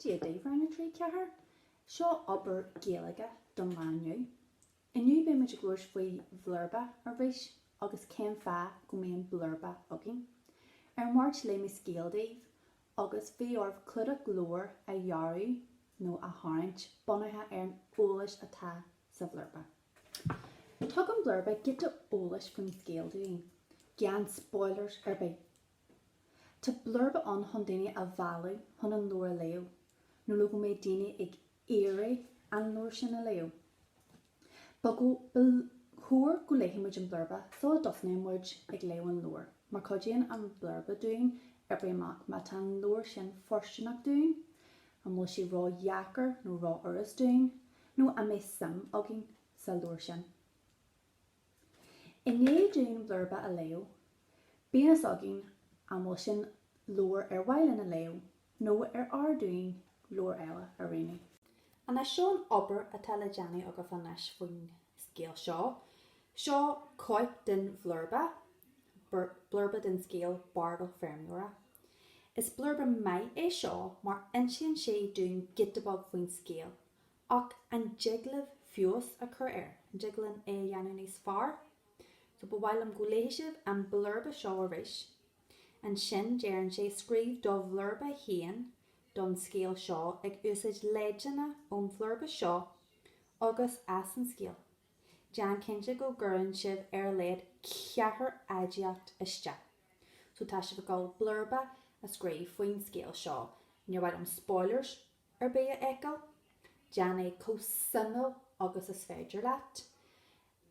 Dia daoibh rang a 3, 4. Seo obair Gaeilge don lá inniu. Inniu beidh muid ag labhairt faoi bhlurba arís agus cén fáth go mbíonn blurba againn. Ar an Mháirt léigh mé scéal daoibh agus bhí oraibh clúdach leabhair a dhearadh nó a tharraingt bunaithe ar an eolas atá sa bhlurba. Tugann blurba giota eolais faoin scéal dúinn, gan spoilers ar bith. Tá blurba ann chun daoine a mhealladh chun an leabhar a léamh, nó le go mbeidh daoine ag iarraidh an leabhar sin a léamh. Ba ba chóir go léifidh muid an blurba sula dtosnaíonn muid ag léamh an leabhair, mar cuidíonn an blurba dúinn oibriú amach má tá an leabhar sin fóirsteanach dúinn, an bhfuil sé ró-dheacair nó ró-fhurast dúinn, nó an mbeidh suim againn sa leabhar sin. I ndiaidh dúinn blurba a léamh. Bíonn fhios againn an bhfuil sin leabhar ar mhaith linn a léamh nó ar fhearr dúinn leabhar eile a roghnú. Anois seo an obair atá le déanamh agaibh anois faoin scéal seo. Seo cóip den bhlurba, blurba den scéal Bardal Feirmeora. Is blurba maith é seo mar insíonn sé dúinn giota beag faoin scéal, Ach an dtig linn feabhas a chur air? An dtig linn é a dhéanamh níos fearr? So ba mhaith liom go léifidh sibh an blurba seo arís. Ansin deireann sé, Scríobh do bhlurba féin don scéal seo ag úsáid leideanna ón bhlurba seo agus as an scéal. Déan cinnte go gcuireann sibh ar a laghad ceathair aidiacht isteach. So tá sibh ag dul blurba a scríobh faoin scéal seo. Níor mhaith liom spoilers ar bith a fheiceáil, déan é chomh suimiúil agus is féidir leat.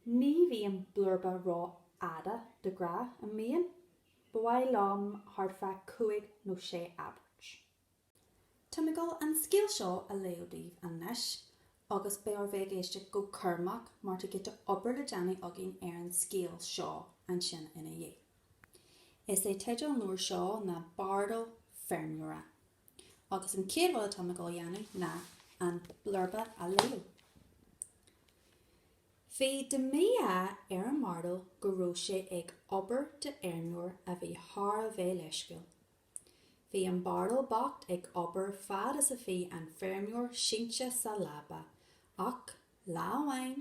Ní bhíonn blurba rófhada, de ghnáth, an mbíonn? Ba mhaith liom thart fá cúig nó sé abairt. Táim ag dul an scéal seo a léamh daoibh anois, agus beidh oraibh éisteacht go cúramach mar tá giota obair le déanamh againn ar an scéal seo ansin ina dhiaidh. Is é teideal an leabhair seo ná Bardal Feirmeora. Agus an chéad rud atá mé ag dul a dhéanamh ná an blurba a léamh. Bhí de mhí-ádh ar an mbardal go raibh sé ag obair d'fheirmeoir a bhí thar a bheith leisciúil. Bhí an bardal bocht ag obair fad is a bhí an feirmeoir sínte sa leaba, ach lá amháin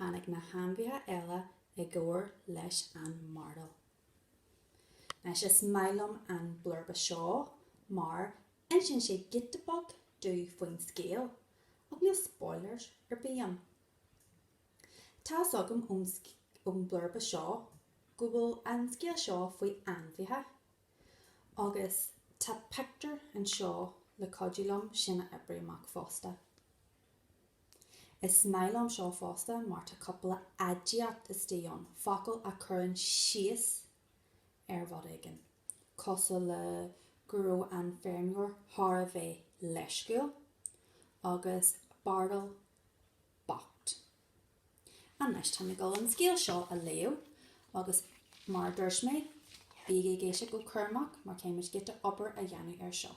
tháinig na hainmhithe eile i gcabhair leis an mbardal. Anois is maith liom an blurba seo mar insíonn sé giota beag domh faoin scéal ach níl spoilers ar bith ann. Tá's agam ón ón blurba seo go bhfuil an scéal seo faoi ainmhithe agus tá pictiúr anseo le cuidiú liom sin a oibriú amach fosta. Is maith liom seo fosta mar tá cupla aidiacht istigh ann, focail a chuireann síos ar rud éigin, cosúil le go raibh an feirmeoir thar a bheith leisciúil agus bardal bocht. Anois, táim ag dul an scéal seo a léamh agus mar a dúirt mé, bígí ag éisteacht go cúramach mar táimid giota obair a dhéanamh ar seo.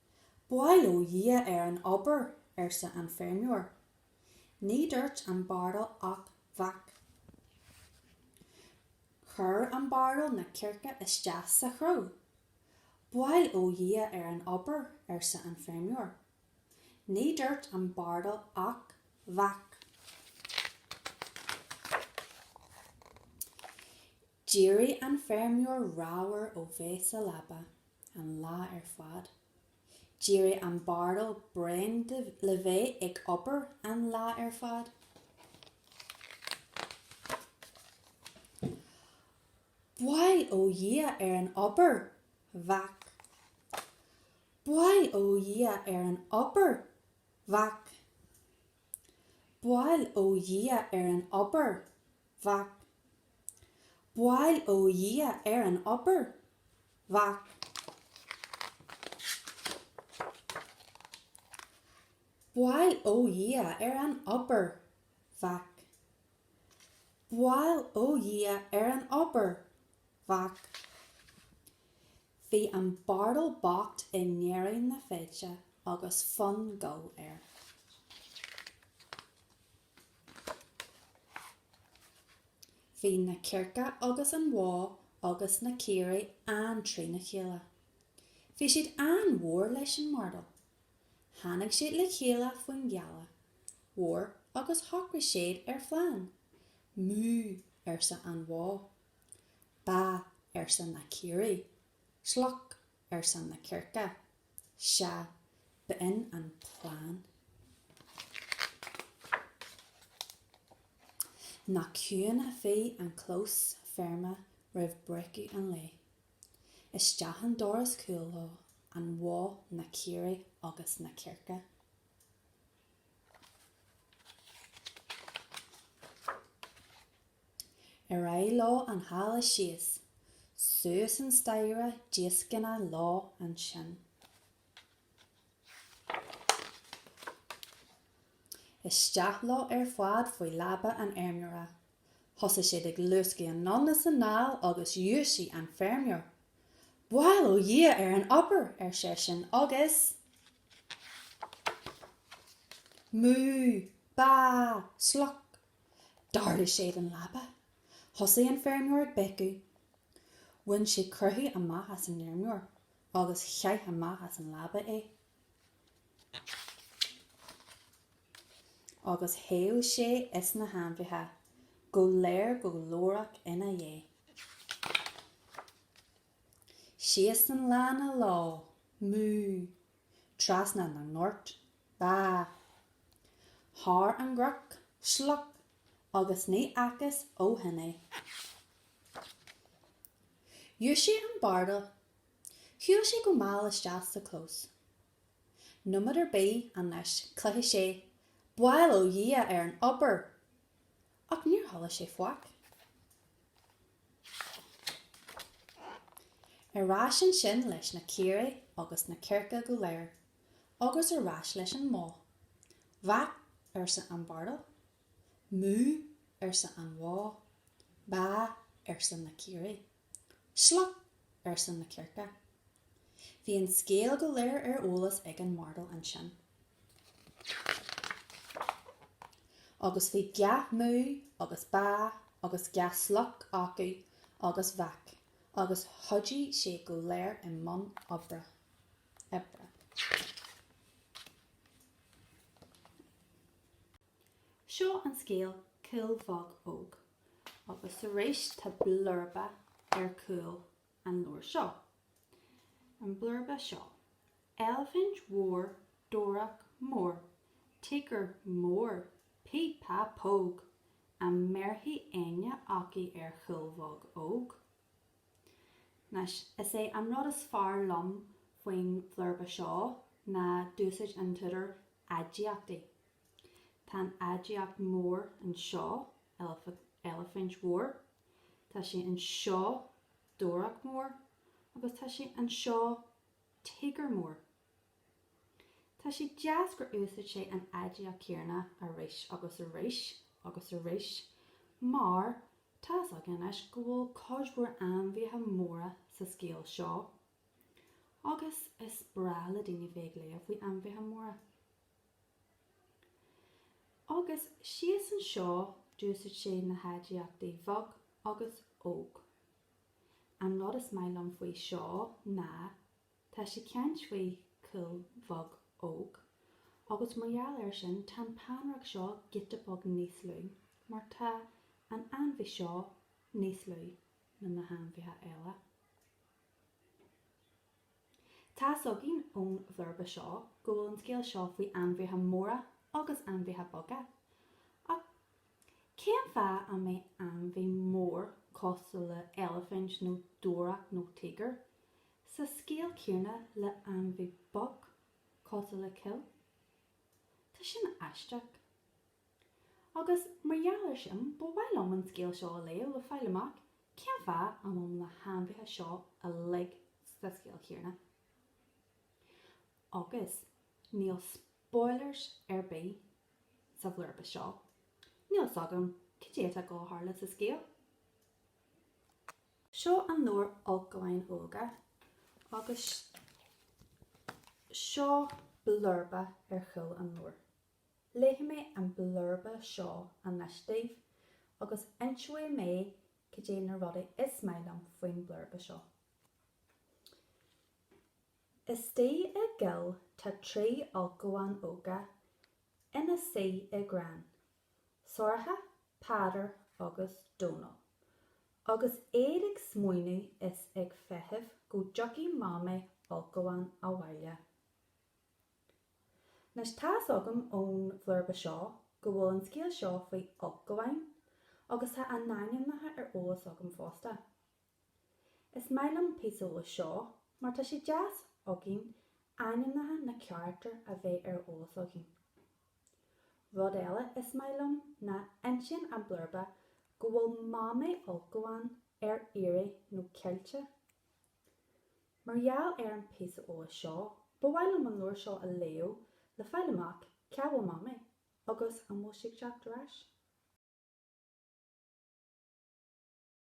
Bail ó Dhia ar an obair, arsa an feirmeoir. Ní dúirt an bardal ach vác. Chuir an bardal na circe isteach sa chró. Bail ó Dhia ar an obair, arsa an feirmeoir. Ní dúirt an bardal ach vác. D'éirigh an feirmeoir ramhar ó bheith sa leaba. An lá ar fad. D'éirigh an bardal bréan de bheith ag obair an lá ar fad. Bail ó Dhia ar an obair! Vác. Bail ó Dhia ar an obair! Vác. Bail ó Dhia ar an obair! Vác. Bail ó Dhia ar an obair. Vác. Bail ó Dhia ar an obair. Vác. Bail ó Dhia ar an obair. Vác. Bhí an bardal bocht i ndeireadh na feide agus fonn goil air. Bhí na cearca agus an bhó agus na caoirigh an-trína chéile. Bhí siad an-mhór leis an mbardal. Tháinig siad le chéile faoin ghealach mhór agus shocraigh siad ar phlean. Mú, arsa an bhó. Ba, arsa na caoirigh. Cloc, arsa na circe. Sea, b'in an plean. Nach ciúin a bhí an clós feirme roimh breacadh an lae. Isteach an doras cúil leo, an bhó, na caoirigh agus na circe. Ar aghaidh leo an halla síos, suas an staighre díoscánach leo ansin. Isteach leo ar fad faoi leaba an fheirmeora. Thosaigh siad ag luascadh anonn is anall agus dhúisigh an feirmeoir. Bail ó Dhia ar an obair, ar seisean, agus. Mú! Bá! Sloc! D'ardaigh siad an leaba. Thosaigh an feirmeoir ag béiceadh. Bhain siad croitheadh amach as an fheirmeoir agus chaith amach as an leaba é. Agus theith sé is na hainmhithe, go léir go glórach ina dhiaidh. Síos an lána leo, mú, trasna na ngort, bá. Thar an gcnoc, sloc, agus ní fhacthas ó shin é. Dhúisigh an bardal. Shiúil sé go mall isteach sa chlós. Nóiméad ar bith anois chloisfeadh sé bail ó Dhia ar an obair! Ach níor chuala sé faic. Ar ais ansin leis na caoirigh agus na circe go léir, agus ar ais leis an mbó. Vác, arsa an bardal. Mú, arsa an bhó. Bá, arsa na caoirigh. Sloc! arsa na circe. Bhí an scéal go léir ar eolas ag an mbardal ansin. Agus bhí gach mú agus bá agus gach sloc acu agus vác agus chuaigh siad go léir i mbun oibre. Seo an scéal Cuil Bheag Óg agus arís tá blurba ar chúl an leabhair seo. An blurba seo. Eilifint mhór dobhareach mór tíogar mór píp pá póg an mbéarfaidh éinne acu ar Chuil Bheag Óg? Anois, is é an rud is fearr liom faoin bhlurba seo ná d'úsáid an t-údar aidiachtaí. Tá an aidiacht mór anseo, eilifint mhór. Tá sé anseo, dobhareach mór. Agus tá sé anseo, tíogar mór. Tá sé deas gur úsaid sé an aidiacht chéarna arís agus arís agus arís mar tá's againn anois go bhfuil cuid mhór ainmhithe móra sa scéal seo agus is breá le daoine bheith ag léamh faoi ainmhithe móra. Agus síos anseo d'úsáid sé na haidiachtaí bheag agus óg. An rud is maith liom faoi seo ná tá sé ag caint faoi chuil bheag óg agus mar gheall ar sin tá an peannaireacht seo giota beag níos lú mar tá an ainmhí seo níos lú ná na hainmhithe eile. Tá's againn ón bhlurba seo go bhfuil an scéal seo faoi ainmhithe móra agus ainmhithe beaga. Ach cén fáth a mbeadh ainmhí mór cosúil le eilifint nó dobhareach nó tíogar sa scéal céanna le ainmhí beag cosúil le cuil? Tá sin aisteach. Agus mar gheall air sin, ba mhaith liom an scéal seo a léamh le fáil amach cén fáth a bhfuil na hainmhithe seo uilig sa scéal céanna. Agus níl spoilers ar bith sa bhlurba seo, níl a fhios agam cad é atá ag gabháil a tharlú sa scéal. Seo an leabhar Ulchabháin Óga agus seo blurba ar chúl an leabhair. Léifidh mé an blurba seo anois daoibh agus inseoidh mé cad é na rudaí is maith liom faoin blurba seo. Istigh i gcoill tá trí ulchabhán óga ina suí i gcrann, Sorcha, Peadar agus Dónall. Agus iad ag smaoineamh is ag feitheamh go dtiocfaidh Mamaí ulchabhán abhaile. Anois, tá fhios agam ón bhlurba seo go bhfuil an scéal seo faoi ulchabháin, agus tá a n-ainmneacha ar eolas agam fosta. Is maith liom píosa eolais seo, mar tá sé deas againn ainmneacha na carachtar a bheith ar eolas againn. Rud eile is maith liom ná insíonn an blurba go bhfuil Mamaí ulchabhán ar iarraidh nó caillte. Mar gheall ar an bpíosa eolais seo, ba mhaith liom an leabhar seo a léamh le fáil amach cá bhfuil Mamaí agus an bhfuil sí ag teacht ar ais.